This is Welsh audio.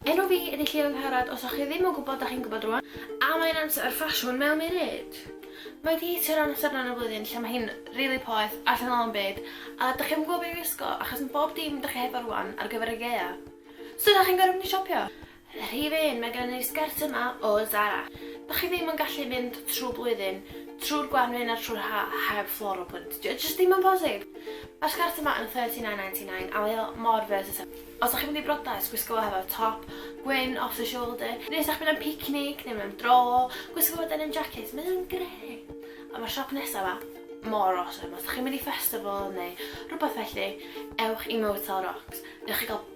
Enw fi ydi Llio Angharad, os o'ch chi ddim yn gwybod dach chi'n gwybod rwan, a mae'n amser ar ffasiwn mewn munud! Mae di hitio'r amser yna yn y flwyddyn lle mae hi'n rili poeth, allan o lawn byd, a dach chi'm yn gwybod be i wisgo, achos mae bob dim dach chi hefo rwan ar gyfer y gaeaf. So dach chi'n gorfod mynd i siopio! Rhif un, mae gennym ni'r sgert yma o Zara. Dach chi ddim yn gallu mynd trwy blwyddyn, trwy'r gwanwyn a trwy'r ha heb floral print. Dio jyst ddim yn posib. Mae'r sgert yma yn £39.99 a mae o mor versatile. Os dach chi'n mynd i briodas, gwisgo fo hefo top gwyn off the shoulder, neu os dach chi'n mynd am picnic neu mewn dro, gwisgo fo denim jacket, mae o'n grêt. A mae'r siop nesaf yma mor awesome. Os dach chi'n mynd i festival neu rhywbeth felly, ewch i Motel Rocks. Newch chi gael